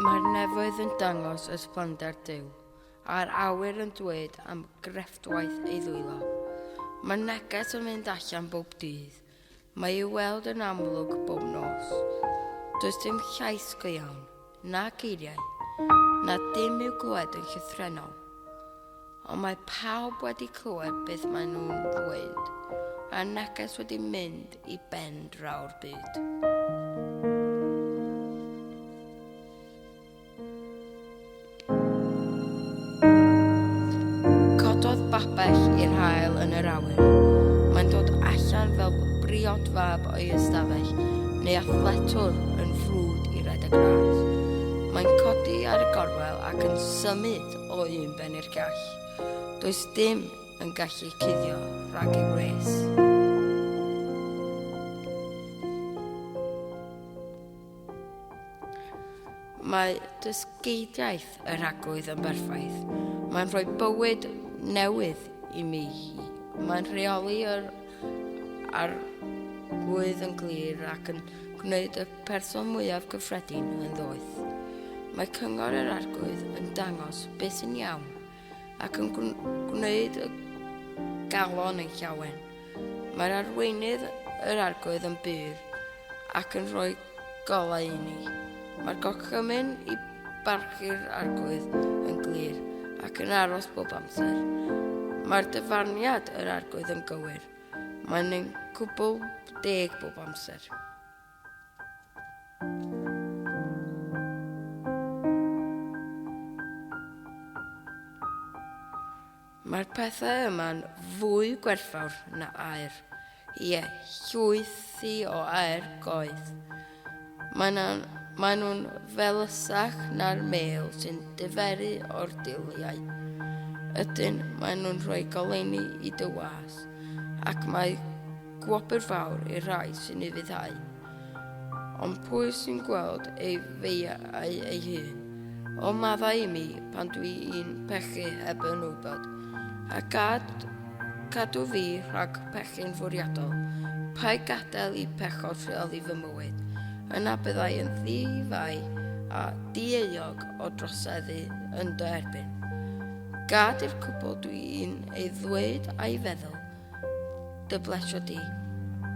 Mae'r nefoedd yn dangos ysblander Duw, a'r awyr yn dweud am grefftwaith ei ddwylo. Mae neges yn mynd allan bob dydd, Mae i'w weld yn amlwg bob nos. Does dim llais go iawn, na geiriau, na dim i'w glywed yn llythrenol. Ond mae pawb wedi clywed beth maen nhw'n ddweud, a neges wedi mynd i ben draw'r byd. Cododd babell i'r hael yn yr awyr. Mae'n dod allan fel briod fab o'i ystafell, neu athletwr yn ffrwd i redeg ras. Mae'n codi ar y gorwel ac yn symud o un ben i'r gall. Does dim yn gallu cuddio rhag ei wres. Mae dysgeidiaeth y rhagwydd yn berffaith. Mae'n rhoi bywyd newydd i mi hi. Mae'n rheoli yr arglwydd yn glir ac yn gwneud y person mwyaf gyffredin yn ddoeth. Mae cyngor yr arglwydd yn dangos beth sy'n iawn ac yn gwneud y galon yn llawen. Mae'r arweinydd yr argoedd yn byr ac yn rhoi golau i ni. Mae'r gorchymyn i barchu'r argoedd yn glir ac yn aros bob amser. Mae'r dyfarniad yr argoedd yn gywir. Mae'n ein cwbl deg bob amser. Mae'r pethau yma'n fwy gwerthfawr na air. Ie, llwythi o air goedd. Maen nhw'n felysach na'r mêl sy'n diferu o'r diliau. Ydyn, maen nhw'n rhoi goleini i dy was, ac mae Gwobr fawr i'r rhai sy'n ei fyddhau. Ond pwy sy'n gweld ei feiau ei hun? O maddau i mi pan dwi i'n pechu heb yn wybod. A gad cadw fi rhag pechu'n fwriadol. Pai gadael i pechod rheoli fy mywyd. Yna byddai yn ddifau a dieuog o droseddu yn dy erbyn. Gad i'r cwbl dwi i'n ei ddweud a'i feddwl Dy blesio di,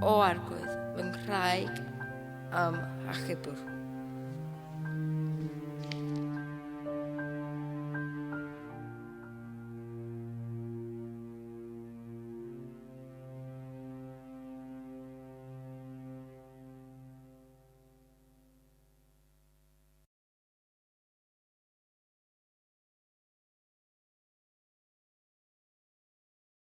o Arglwydd, fy nghraig am achubwr.